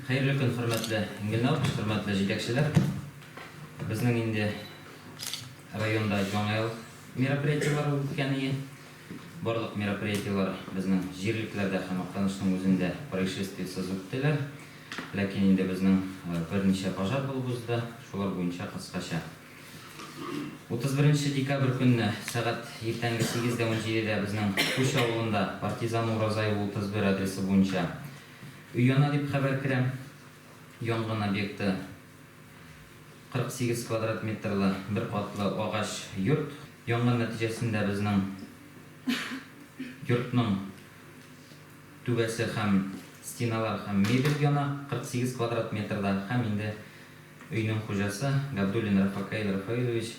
Хәерле көн, хөрмәтле Ингелнур, хөрмәтле җитәкчеләр! Безнең инде районда Яңа ел мероприятиеләре үткән ие. Барлык мероприятиеләр безнең җирлекләрдә һәм Актанышның үзендә происшествиесез үттеләр. Ләкин инде безнең берничә пожар булып узды, шулар буенча кыскача. 31 декабрь көнне сәгать иртәнге сигез дә унҗидедә безнең Күч авылында Партизан Уразаева 31 адресы буенча Өяна дип хәбәр керә. Янгын объекты 48 квадрат метрлы бер катлы агач йорт. Янгын нәтиҗәсендә безнең йортның түбәсе һәм стеналар һәм мебель яна 48 квадрат метрда һәм инде өйнең хуҗасы Габдуллин Рафакаил Рафаилович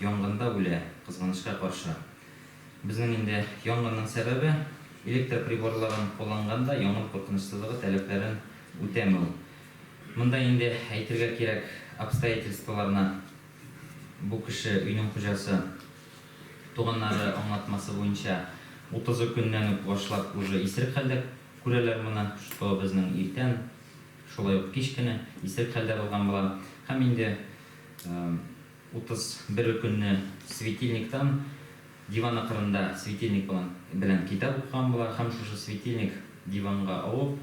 янгында үлә, кызганычка каршы. Безнең инде янгынның сәбәбе, электр приборларын кулланганда янгын куркынычсызлыгы таләпләрен үтәмәү. Монда инде әйтергә кирәк обстоятельстволарны бу кеше, өйнең хуҗасы, туганнары аңлатмасы буенча, утызы көннән үк башлап уже исерек хәлдә күрәләр моны, что безнең иртән, шулай ук кич кенә исерек хәлдә булган була. Һәм инде. Утыз бер көнне светильниктан диван акырында светильник белән китап укыган болар һәм шушы светильник диванга авып,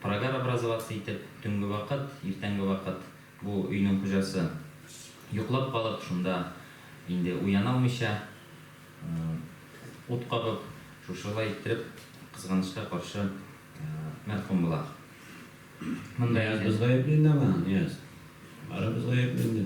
прогар образоваться итеп, төнге вакыт, иртәнге вакыт бу өйнең хуҗасы йоклап калып, шунда инде уяна алмыйча ут кабып, шушылай иттереп, кызганычка каршы, мәрхүм була. Монда инде. Нияз, без гаепле инде аңа, Нияз. Барыбыз гаепле инде.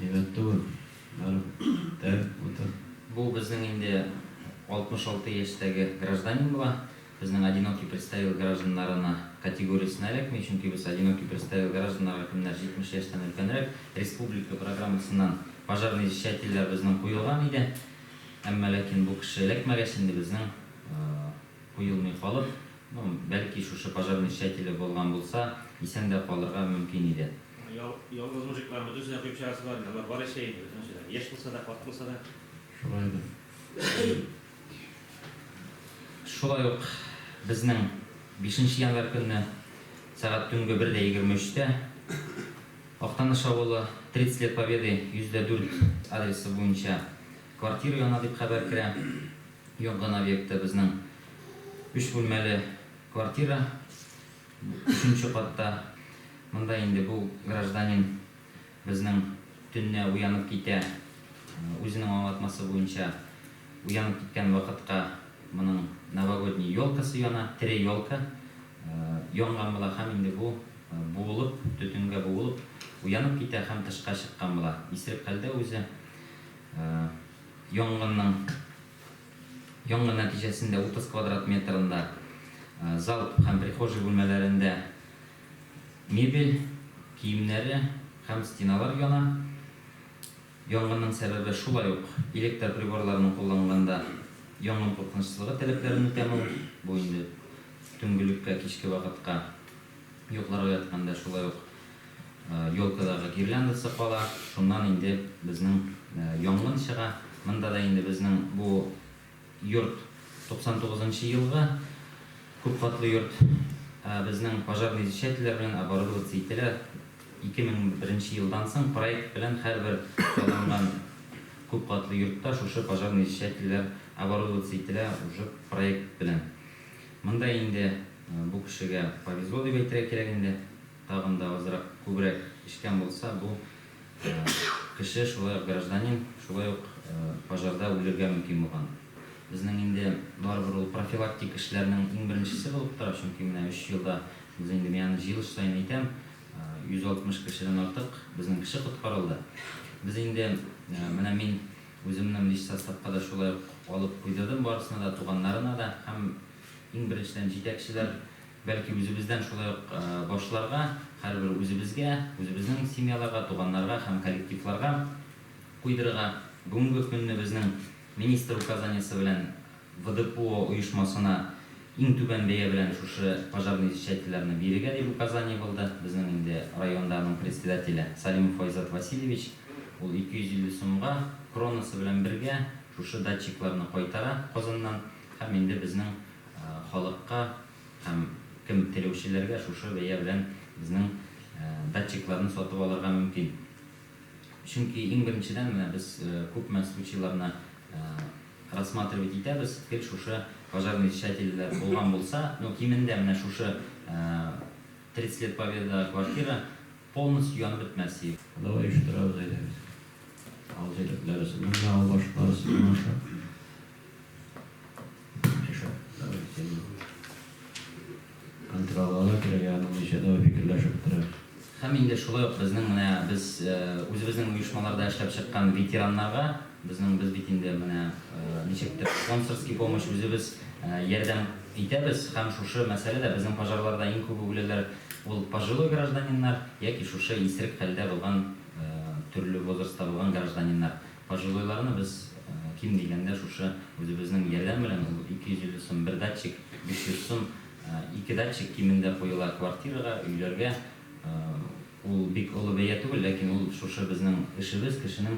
Әйбәт түгел. Барып тел, утыр. Бу безнең инде 66 яшьтәге гражданин була. Безнең одинокий представил гражданнарына категориясенә эләкми, чөнки без одинокий представил гражданнарга кемнәр 70 яшьтән өлкәнрәк, республика программасыннан пожарный извещательләр безнең куелган иде. Әмма ләкин бу кеше эләкмәгәч, инде безнең куелмый калып. Ну, бәлки шушы пожарный чәтеле булган булса, исән дә калырга мөмкин иде. Ял, ялгыз мужикларны бөтенсен дә коеп чыгарасызлар инде, алар бар яшәй инде, бөтенесе дә, яшь булса да, карт булса да. Шулай да. Шулай ук безнең бишенче январь көнне сәгать төнге бер дә егерме өчтә Актаныш авылы, 30 лет Победы, 100 дә дүрт адресы буенча квартира яна дип хәбәр керә. Янган объектта безнең өч бүлмәле квартира, өченче катта. Монда инде бу гражданин безнең төнлә уянып китә. Үзенең аңлатмасы буенча, уянып киткән вакытка моның новогодний елкасы яна, тере елка янган була һәм инде бу буылып, төтенгә буылып уянып китә һәм тышка чыккан була. Исерек хәлдә үзе. Янгын нәтиҗәсендә 30 квадрат метрында зал һәм прихожий бүлмәләрендә мебель, киемнәре һәм стеналар яна. Янгынның сәбәбе шулай ук электр приборларының кулланганда янгын куркынычсызлыгы таләпләрен үтәмәү, бу инде төнге леккә, кичке вакытка Йокларга ятканда шулай ук елкадагы гирляндасы кала, шуннан инде безнең янгын чыга. Монда да инде безнең бу йорт 99 нчы елгы күп катлы йорт. Безнең пожарный изчәтельләр белән оборудоваться ителә. 2001 нче елдан соң проект белән һәрбер салынган күп катлы йортта шушы пожарный изчәтельләр оборудоваться ителә уже проект белән. Монда инде бу кешегә повезло дип әйтергә кирәк инде, тагын да азрак, күбрәк эчкән булса, бу кеше шулай ук гражданин, шулай ук пожарда үлергә мөмкин булган. Безнең инде барыбер ул профилактик эшләрнең иң беренчесе булып тора, чөнки менә өч елда без инде, мин аны җыелыш саен әйтәм, 160 кешедән артык безнең кеше коткарылды. Без инде, менә мин Үземнең биш составка да шулай ук алып куйдырдым барысына да, туганнарына да һәм иң беренчедән җитәкчеләр, бәлки үзебездән шулай ук башларга, һәрбер үзебезгә, үзебезнең семьяларга, туганнарга һәм коллективларга куйдырырга, бүгенге көнне безнең министр указаниесе белән, ВДПО оешмасына иң түбән бәя белән шушы пожарный изчәтчеләрне бирергә дип указание булды. Безнең инде районда аның председателе Салимов Айзат Васильевич, ул 250 сумга, кронасы белән бергә, шушы датчикларны кайтара Казаннан һәм инде безнең халыкка һәм кем теләүчеләргә шушы бәя белән безнең датчикларны сатып алырга мөмкин. Чөнки иң беренчедән менә без күпме случайларны рассматривать итәбез, гел шушы пожарный решательләр булган булса, ну, кимендә менә шушы 30 лет победа квартира полностью янып бетмәс иде. Давай оештырабыз, әйдәгез. Авыл җирлекләре сымнарга, авыл башлыклары сынлаша. Яшә, давай, син. Контролларга кирәк, ягъни ничә дәвер фикерләшеп бетерәбез. Һәм инде шулай ук безнең менә без үзебезнең оешмаларда эшләп чыккан ветераннарга, безнең без бит инде менә ничектер спонсорский помощь үзебез ярдәм итәбез һәм шушы мәсьәлә дә безнең пожарларда иң күп үгеләләр ул пожилой гражданиннар яки шушы исерек хәлдә булган төрле возрастта булган гражданиннар. Пожилойларны без, ким дигәндә, шушы үзебезнең ярдәм белән, ул 250 сум бер датчик, 500 сум ике датчик кимендә куела квартирага, өйләргә. Ул бик олы бәя түгел, ләкин ул шушы безнең эшебез, кешенең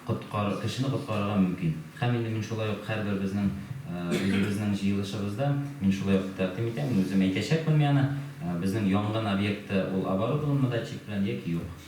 коткар кешене коткарырга мөмкин. Һәм инде мин шулай ук һәрберебезнең үзебезнең җыелышыбызда мин шулай ук тәкъдим итәм, мин үзем әйтәчәкмен мианы, безнең янгын объекты ул оборудованмы датчик белән яки юк.